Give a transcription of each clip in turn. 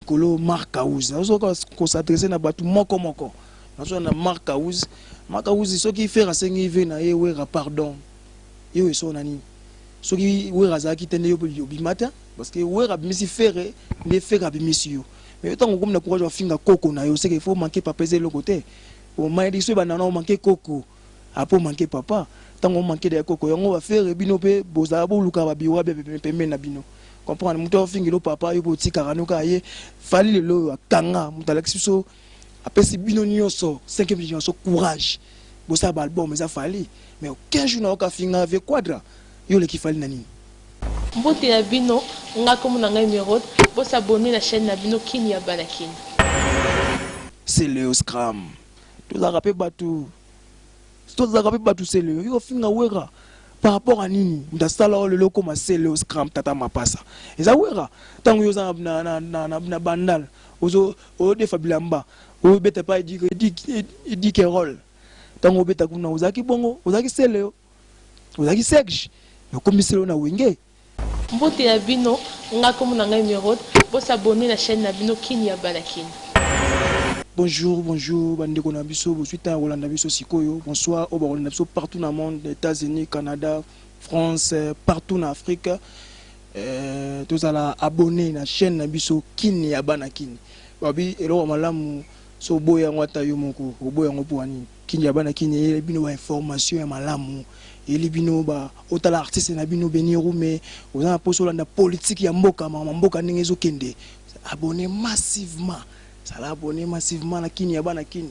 likolo marc house nazoka ko s'adresser na batu moko moko nazo na marc house marc house soki ferre asengi ve na ye wera pardon yo eso na nini soki wera azalaki te nde yo obima te parce que wera abimisi ferre nde ferre abimisi yo mais yo tango okomi na courage ofinga koko na yo seke faut manquer papa eza eloko te omayedikisi oyo banana omanke koko Ah po manque papa tango o manque d'ailleurs koko yango ba ferre bino pe bozala boluka ba biwa bia pembeni na bino comprendre mutu azo fingela yo papa yo pe otikaka no kaka ye fally lelo oyo akanga mutu alakisi biso apesi bino nioso cinquième dimension courage bosala ba album eza fally mais aucun jour nayoka afinga vieux quadra yo oleki fally na nini? Mbote na bino, nga kombo na nga Emeraude, bo s'abonner na chaine na bino kin ya bana kin. C'est Leoscram. tozalaka pe batu tozalaka pe batu celeo yo finga wera par rapport à nini ndasala oyo lelo okoma celeo scram tata mapasa eza wera ntango yo oza na, na, na, na, na bandal ozo odefa bilamba obeta pa edike edike edike role ntango obeta kuna ozalaki bongo ozalaki celeo ozalaki serge nakomi celeo na wenge Mbote na bino nga kombo na ngai emeraude bo s'abonner na chaine na bino kin ya bana kin. Bonjour bonjour ba ndeko na biso bozui temps ya kolanda biso sikoyo bonsoir oyo bakolanda biso partout na monde etats unis canada france partout na afrique tozala abonne na chaine na biso kin ya bana kin babi eloko malamu so oboyi yango ata yo moko oboyi yango pona nini. Kin ya bana kin eyeli bino ba informations ya malamu eyeli bino ba otala artiste na bino Beni Rume oza na posa olanda politique ya mboka makambo ya mboka ndenge ezo kende abonne massivement zala abonne massivement na kin ya bana kin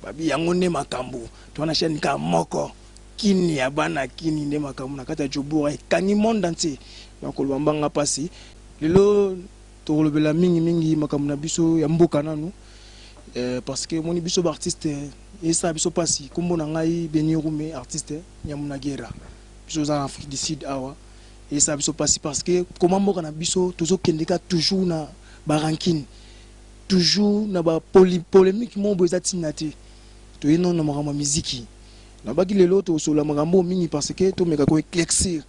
babi yango nde makambo toza na chaine kaka moko kin ya bana kin nde makambo na kati ya Joburg ekangi monde entier donc koloba mbanga pasi lelo Tokolobela mingi mingi makambo na biso ya mboka nanu eh, parce que moni biso ba artiste esa biso pasi. Kombo na ngai Beni Rume, artiste Nyamunagera. Biso za na Afrique du Sud awa esa biso pasi parce que koma mboka na biso tozo kendeka toujours na ba rancune, toujours na ba polemique mobo eza tina te. Toye non na makambo ya miziki. Nalobaki lelo tokosolola makambo oyo mingi parce que tomeka ko eclaircir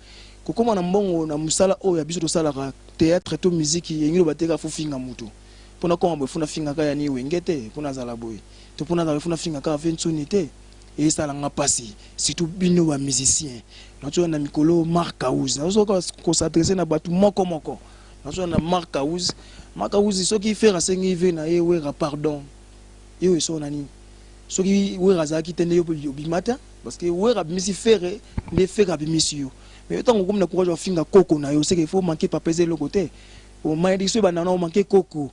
kokoma na mbongo na musala oyo ya biso tosalaka theatre to miziki elingi loba te kaka faut ofinga mutu po nakoma boye faut nafinga kaka Yannick Wenge te po nazala boye to po nazala boye faut nafinga kaka Vieux Nsoni te esala nga pasi surtout bino ba musiciens nazoya na mikolo Marc House nazoka ko s'adresser na batu moko moko nazoya na Marc House Marc House soki Ferre asengi vue na ye Werra pardon Yo oye solo na nini? Soki Werra azalaki te nde yo pe obima te parce que Werra abimisi Ferre nde Ferre abimisi yo. Mais yo tango okomi na courage ya kofinga koko na yo, c'est que faut manquer papa eza eloko te. O malediction ebanda wana o manquer koko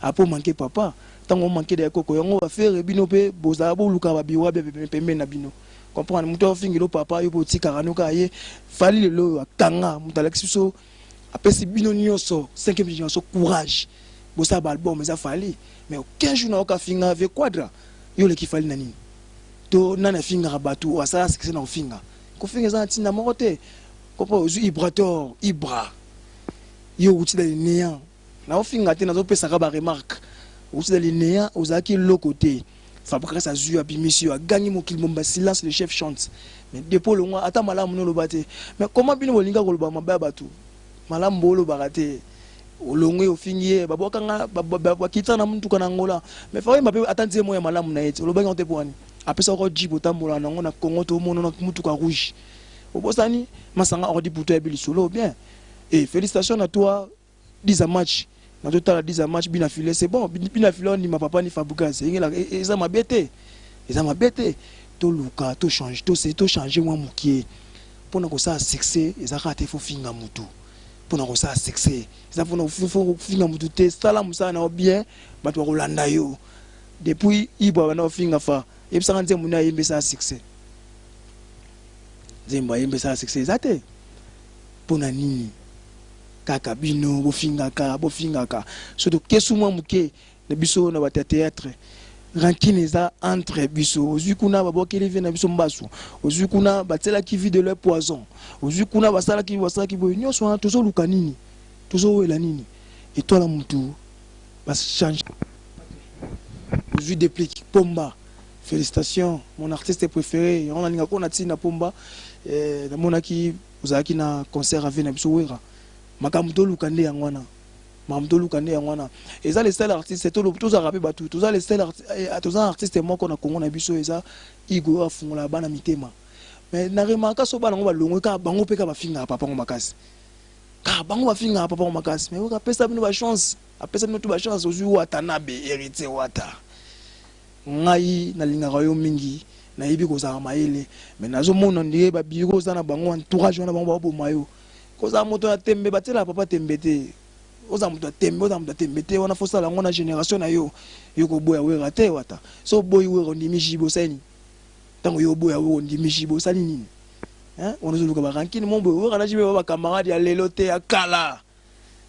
après o manquer papa. Tango o manquer dejà koko yango ba Ferre bino pe bozalaka bolukaka ba biwa bia pembeni na bino. Comprendre mutu azo fingela yo papa yo pe otikaka no kaka ye. Fally lelo oyo akanga mutu alakisi biso apesi bino nioso cinquième generation courage bosala ba album eza Fally mais aucun jour nayoka afinga vieux Quadra yo oleki Fally na nini to nani afingaka batu oyo asala succès na kofinga kofinga eza na tinda moko te papa ozui ibrator ibra yo owuti na le neant Nazo finga te nazo pesa ka ba remarque outi na lineya ozalaki eloko te fabrikas azwi yo abimisi yo agangi mokili momba silence le chef chante mais depo olongwa ata malamu no oloba te mais koma bino bolinga koloba mabe ya bato malamu boolobaka te olongwe ofingi ye babwakanga bakitana na motuka na angola mais faoyemba mpe ata nzembo ya malamu na ye te olobaki yango te mpo wani apesa oko jipe otambola na yango na kongo to omonona motuka rouge obosani masanga ordi buto yabi lisolo bien e eh, félicitation na toi 10 a match nazo tala 10 a match bina filet c'est bon bina filet on ndima papa ni Fabregas engela e, e, eza mabe te eza mabe te to luka to change to se to changer mwa mukie pona ko sa succès eza kaka te faut finga mutu pona ko sa succès eza pona faut finga mutu te sala musala na bien bato bakolanda yo depuis ibwa bana ofinga fa yebisaka nzembo nde ayembi esala succès nzembo ayembi esala succès eza te mpo na nini Kaka bino bofingaka bofingaka surtout kesu mwa muke na biso na bato ya theatre rancune eza entre biso ozwi kuna babwakeli vie na biso mbasu ozwi kuna batielaki vie de leur poison ozwi kuna basalaki basalaki boye nyonso wana tozoluka nini tozowela nini etwala mutu bachange ozwi deplic pomba félicitation mon artiste préféré yango nalinga kona ntina pomba eh, namonaki Ozalaki na concert ya vie na biso werra makambu toluka nde yango wana makambu toluka nde yango wana eza le seul artiste toloba tozalaka pe batu toza le seul toza artiste moko na Congo na biso eza Hugo oyo afungolaka bana mitema mais na remarka soki bana ngo balongwe kaka bango pe kaka bafingaka papa ngo makasi kaka bango bafingaka papa ngo makasi mais werra apesa bino ba chance apesa bino tout ba chance ozui watanabe heritier wata Ngai na lingaka yo mingi na yebi kozala mayele mais nazo mona ondire ba bureau oza na bango entourage wana bango bao boma yo kozala moto ya tembe ba tiela papa tembe te ozala moto ya tembe ozala moto ya tembe te wana fo sala yango na generation na yo yo ko boya wera te wata so oboyi wera ondimi jibe osali nini tango yo oboya wera ondimi jibe osali nini hein wana ozo luka ba rankini mo boye wera na jibe ba ba camarade ya lelo te ya kala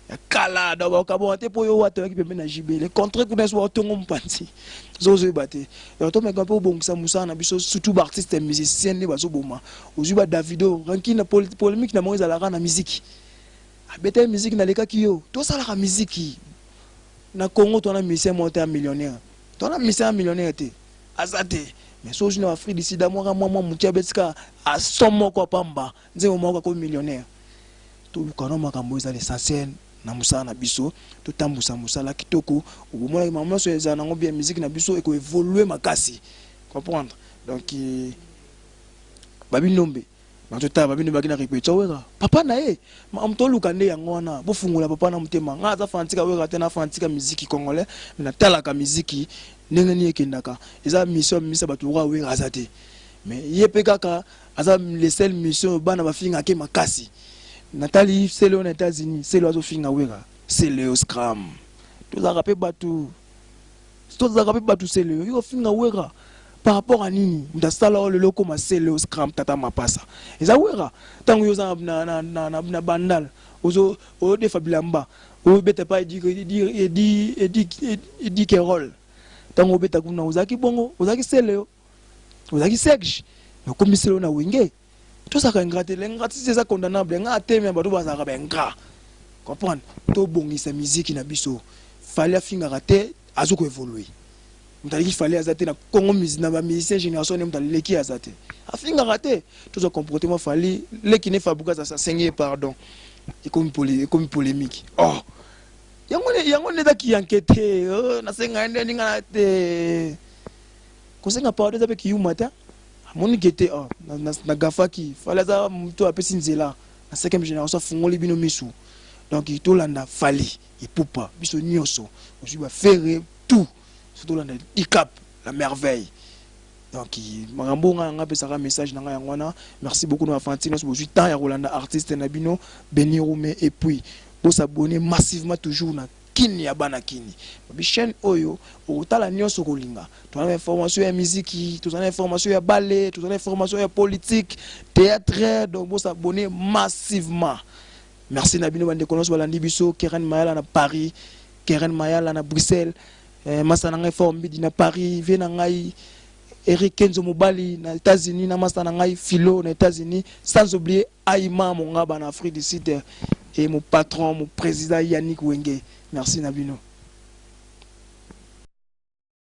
ya kala donc bakabwaka te mpo yo wata oyaki pembe na jb le contraire kuna ezo batongo mpanzi ozoyeba te donc tomeka mpe obongisa mosala na biso surtout baartiste musicien nde bazoboma ozwi ba davido ranki na polémique na bango ezalaka na miziki abetaki miziki nalekaki yo tosalaka miziki na congo twana musicien moko te ya millionnaire twana musicien ya millionnaire te aza te mais so ozwi na afrique du sud amwaka mwa mwa moke abetika aso moko apamba Nzembo moko akomi millionnaire. Toluka no makambo eza l'essentiel na musala na biso totambusa musala kitoko obomonaki makambo nionso ezala nango bien musique na biso eko evolue makasi comprendre donc babinombe nazo tala babinombe baki na repetition wera papa na ye makambo toluka nde yango wana bofungola papa na motema nga aza fanatika wera te na fanatika miziki congolais me natalaka miziki ndenge nini ekendaka eza mission mimisa bato lokola wera aza te me ye pe kaka aza le seul mission bana bafinga ke makasi natali selo na États-Unis selo azofinga wera selo scram tozalaka pe batu tozalaka pe batu selo yo finga wera par rapport à nini mutu asala oyo lelo okoma selo scram tata mapasa eza wera ntango yo oza na, na, na, na, na bandal ozo oyodefa bilamba obeta pa edi edi edi edi edi kerol ntango obeta kuna ozalaki bongo ozalaki selo ozalaki serge nakomisela yo na wenge tozalaka ingrat te l'ingratitude eza condamnable nga ateme ya bato bazalaka baingrat comprendre tobongisa miziki na biso fali afingaka te azo koevolue moto aleki fali aza te na congo na bamusicien génération ne moto aleki aza te afingaka te tozwa comportement fali leki ne fabukas asengi ye pardon ekomi polémique oh yango nde eza kiyanke te oh, nasenga ye nde ningana te Kosenga pardon eza pe kiyuma te. Amoni ke te oh, na, na, na gafaki. Fally aza mutu apesi nzela na 5e generation afungoli bino misu. Donc tolanda Fally Ipupa biso nioso. Ozui ba Ferre tout. So tolanda Dicap la merveille. Donc makambo nga nga pesaka message na nga yango wana. Merci beaucoup na fanatique nioso bozui temps ya kolanda artiste na bino Benny Rume et puis bo s'abonner massivement toujours na Kin ya bana kin babi chaine oyo okotala nionso okolinga toza na information ya miziki toza na information ya bale toza na information ya politique theatre donc bo s'abonner massivement merci na bino ba ndeko nionso balandi biso Keren Mayala na Paris Keren Mayala na Bruxelles eh, masa na ngai Fort Mbidi na Paris vie na ngai Eric Kenzo Mobali na Etats-Unis na masa na ngai Philo na Etats-Unis sans oublier Ayi mamo nga bana Afrique du sud et mon patron mon president Yannick Wenge merci na bino.